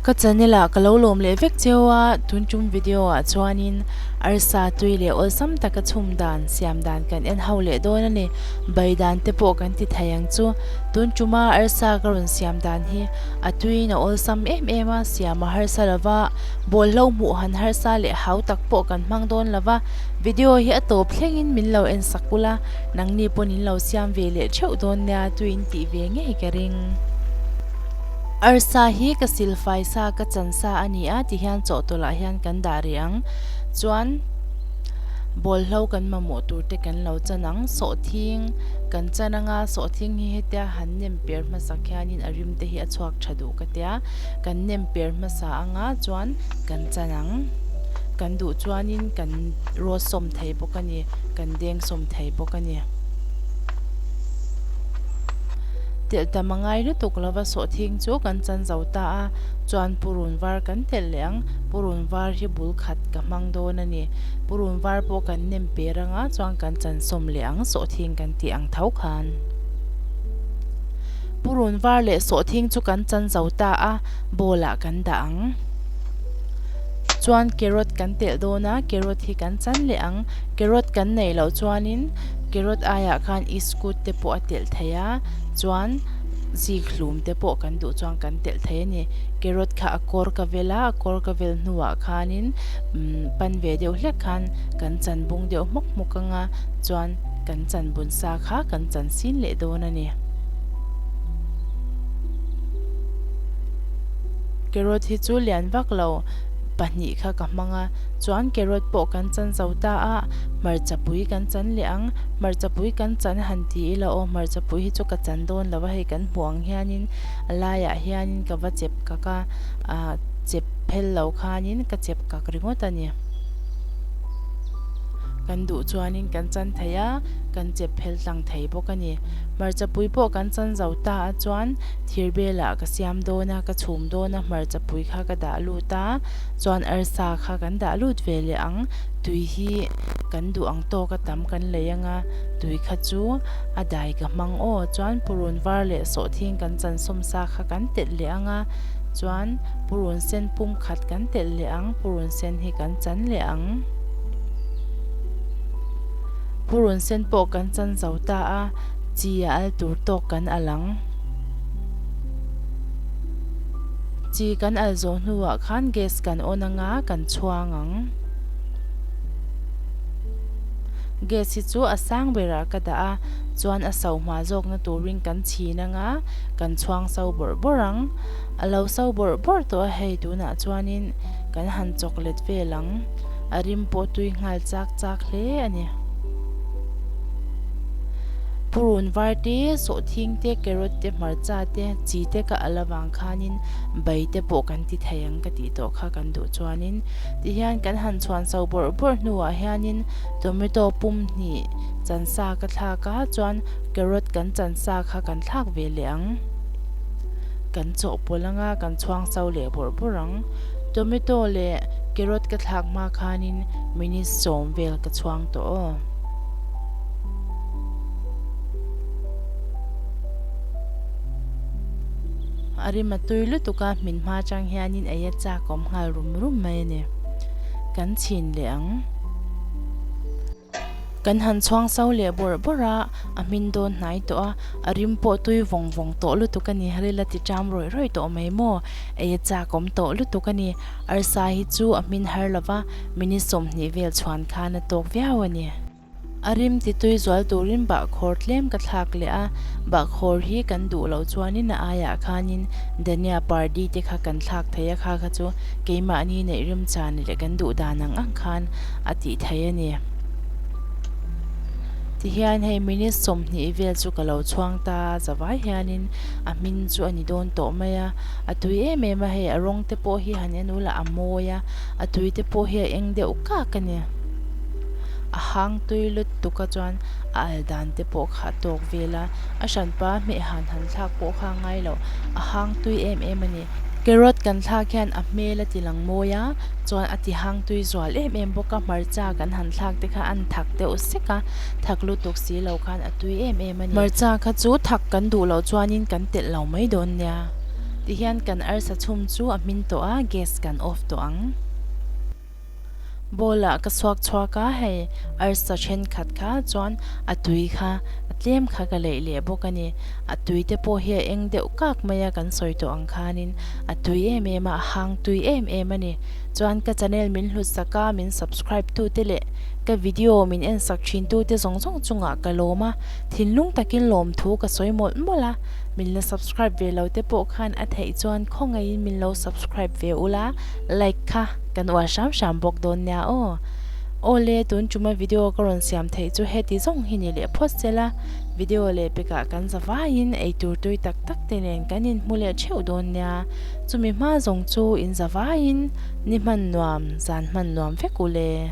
Ka channel ah ka lo lawm leh vek cheu a, tun tum video ah chuanin arsa tui leh awlsam taka chhum dan siam dan kan en ho leh dawn a ni. Bai dan te pawh kan ti thei ang chu. Tun tuma arsa ka rawn siam dan hi a tuiin a awlsam em em a, siam a harsa lo va. Bawlhlo hmuh han harsa leh hau tak pawh kan hmang dawn lo va, video hi a tawp thlengin min lo en sak ula, nangni pawn in lo siam ve leh theuh dawn nia tui in tih ve ngei ka ring. Arsa hi ka silfai sa ka chan sa a ni a ti hian chawhtawlah hian kan dah rih ang chuan bawlhlo kan mamawh tur te kan lo chan ang, sawhthing kan chan anga sawhthing hi hetia han nem per hmasak hianin a rim te hi a chhuak tha duh ka tia. kan nem per hmasa anga chuan kan chan ang. Kan duh chuanin kan raw sawm thei bawk a ni, kan deng sawm thei bawk a ni. Telh tam a ngai lutuk lova sawhthing chu kan chan zo ta a, chuan purun var kan telh leh ang. Purun var hi bul khat ka hmang dawn a ni. Purun var pawh kan nem per anga chuan kan chansawm leh ang sawhthing kan tih ang tho khan. Purun var leh sawhthing chu kan chan zo ta a, bowl ah kan dah ang. Chuan carrot kan telh dawn a, carrot hi kan chan leh ang. Carrot kan nei loh chuanin carrot aiah khan i scoot te pawh a telh thei a, chuan zikhlum te pawh kan duh chuan kan telh thei a ni. Carrot kha a kawr ka vel a, a kawr ka vel hnuah khanin umm pan ve deuh hlek khan kan chan bung deuh hmuk hmuk anga chuan kan chan bun sa kha kan chan sin leh dawn a ni. Carrot hi chu lian vak lo pahnih kha ka hmang a, chuan carrot pawh kan chan zo ta a, hmarcha pui kan chan leh ang, hmarcha pui kan chan han ti ila aw, hmarcha pui hi chu ka chan dawn lo a, hei kan hmuh ang hianin a laiah hianin ka va chep kak a, ah chep phel lo khanin ka chep kak ringawt a ni, kan duh chuanin kan chan thei a. kan chep phel tlang thei bawk a ni. Hmarchapui pawh kan chan zo ta a chuan thir belah ka siam dawn a, ka chhum dawn a, hmarchapui kha ka dah lut a, chuan arsa kha kan dah lut ve leh ang, tui hi kan duh ang tawk a tam kan lei anga tui kha chu a dai ka hmang aw, chuan purun var leh sawhthing kan chansawm sa kha kan telh leh ang a, chuan purun sen pum khat kan telh leh ang, purun sen hi kan chan leh ang. Purun sen pawh kan chan zo ta a, chi a al tur tawk kan al ang. Chi kan al zawh hnuah khan gas kan on anga kan chhuang ang. Gas hi chu a sang berah ka dah a, chuan a sauh hma zawkna turin kan chhin anga kan chhuang sau bawrh bawrh ang. A lo sau bawrh bawrh tawh a hei tunah chuanin kan han chawk let vel ang. A rim pawh tui nghal chak chak hle a ni. Purun var te, sawhthing te, carrot te, hmarcha te, chi te ka alh avang khanin bai te pawh kan ti thei ang ka tih tawh kha kan duh chuanin tihian kan han chhuan chho bawrh bawrh hnuah hianin tomato pum hnih chansa ka thlak a chuan carrot kan chansa kha kan thlak ve leh ang. Kan chawhpawlh anga kan chhuang chho leh bawrh bawrh ang. Tomato leh carrot ka thlak hma khanin minutes sawm vel ka chhuang tawh aw. A rim a tui lutuk a, hmin hma atang hianin ei a chak awm nghal rum rum mai a ni. Kan chhin leh ang. Kan han chhuang sau leh bawrh bawrh a, a hmin dawn hnai tawh a, a rim pawh tui vawng vawng tawh lutuk a ni, ril a ti ṭam rawih rawih tawh mai maw? Ei a chak awm tawh lutuk a ni, arsa hi chu a hmin har lova, minute sawmhnih vel chhuan khan a tawk viau a ni. A rim ti tui zual turin bahkhawr tlem ka thlak leh a, bahkhawr hi kan duh loh chuanin a aiah khanin Dania party te kha kan thlak thei a, kha kha chu keimahni neih rimchhan leh kan duh dan ang ang khan a tih thei a ni. Tihian hei minute sawmhnih vel chu ka lo chhuang ta a, za vai hianin a hming chu a ni dawn tawh mai a, a tui em em a, hei a rawng te pawh hi han en ul a, a mawi a, a tui te pawh hi a eng deuh kak a ni. A hang tui lut tuk a chuan a al dan te pawh kha a tawk vel a, a hranpa hmeh han han thlak pawh kha a ngai lo, a hang tui em em a ni. Carrot kan thlak hian a hmel a ti lang mawi a, chuan a ti hang tui zual em em bawk a, hmarcha kan han thlak te kha an thak deuh sek a, thak lutuk si lo khan a tui em em a ni. Hmarcha kha chu thak kan duh loh chuanin kan telh lo mai dawn nia ti hian kan arsa chhum chu a hmin tawh a, gas kan off tawh ang. Bawlah ka chhuak chhuak a, hei arsa thenkhat kha chuan a tui kha a tlem kha ka leih leh bawk a ni. A tui te pawh hi a eng deuh kak mai a, kan sawi tawh ang khanin a tui em em a, a hang tui em em a ni. Chuan ka channel min hlutsak a, min subscribe tu te leh ka video min en sak thin tu te zawng zawng chungah ka lawm a, thinlung takin lawm thu ka sawi mawlh mawlh a. Min la subscribe ve lo te pawh khan a theih chuan khawngaihin min lo subscribe ve ula. like kha kan uar hram hram bawk dawn nia aw. Awle tun tuma video ka rawn siam theih chu heti zawng hi ni leh phawt sela, video leh pekah kan zavaiin eitur tui tak tak te nen kan inhmu leh theuh dawn nia, chumi hma zawng chu in zavaiin ni hman nuam zan hman nuam vek ule.